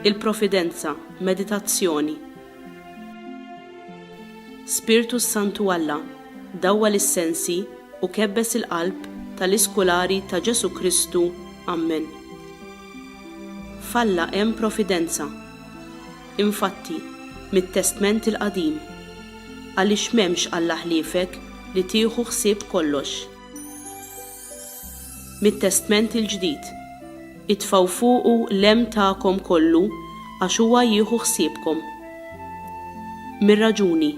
Il-Profidenza, Meditazzjoni Spirtu s-Santu Alla, dawwa lis-sensi u kebbes il-qalb tal-iskulari ta' Ġesu' Kristu. Ammen. F'Alla hemm profidenza. Infatti, mit-Testment il-Qadim, Għaliex m'hemmx Alla ħliefek li tieħu ħsieb kollox. Mit-Testment il-Ġdid, Itfgħu fuqu l-hemm tagħkom kollu għax huwa jieħu ħsiebkom. Mir-raġuni,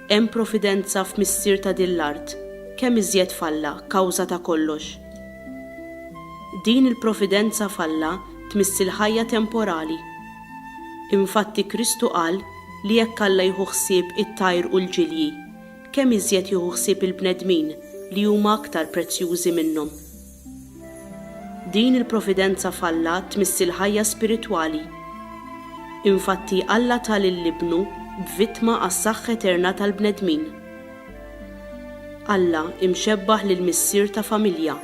Hemm providenza f'Missier ta' din l-art, kemm iżjed f'Alla, kawża ta' kollox. Din il-providenza f'Alla tmiss il-ħajja temporali. Infatti Kristu qal li jekk Alla jieħu ħsieb it-tajr u l-ġilji, kemm iżjed jieħu ħsieb il-bnedmin li huma aktar prezzjużi minnhom. Din il-providenza f'Alla tmiss il-ħajja spiritwali. Infatti Alla ta lil Ibnu b'vittma għas-saħħa eterna tal-bnedmin. Alla imxebbaħ lil missier ta' familja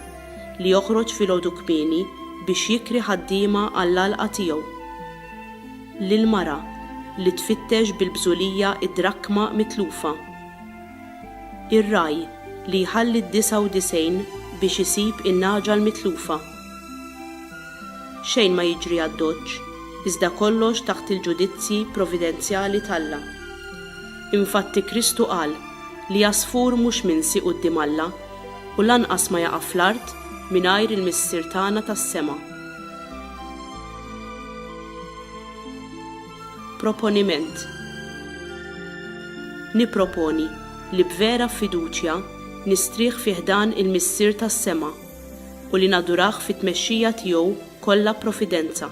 li joħroġ filgħodu kmieni biex jikri ħaddiema għall-għalqa tiegħu. Lil mara li tfittex bil-bżulija d-drakkma mitlufa. Ir-ragħaj li jħalli d-disgħa u disgħin biex isib in-nagħġa l-mitlufa. Xejn ma jiġri għad-doċċ, iżda kollox taħt il-ġudizzji providenzjali t'Alla. Infatti Kristu qal li għasfur mhux minsi quddiem Alla u lanqas ma jaqa' fl-art mingħajr il-Missier tagħna tas-sema. Proponiment Nipproponi li b'vera fiduċja nistrieħ fi ħdan il-Missier tas-sema u li nadurah fit-tmexxija tiegħu kollha profidenza.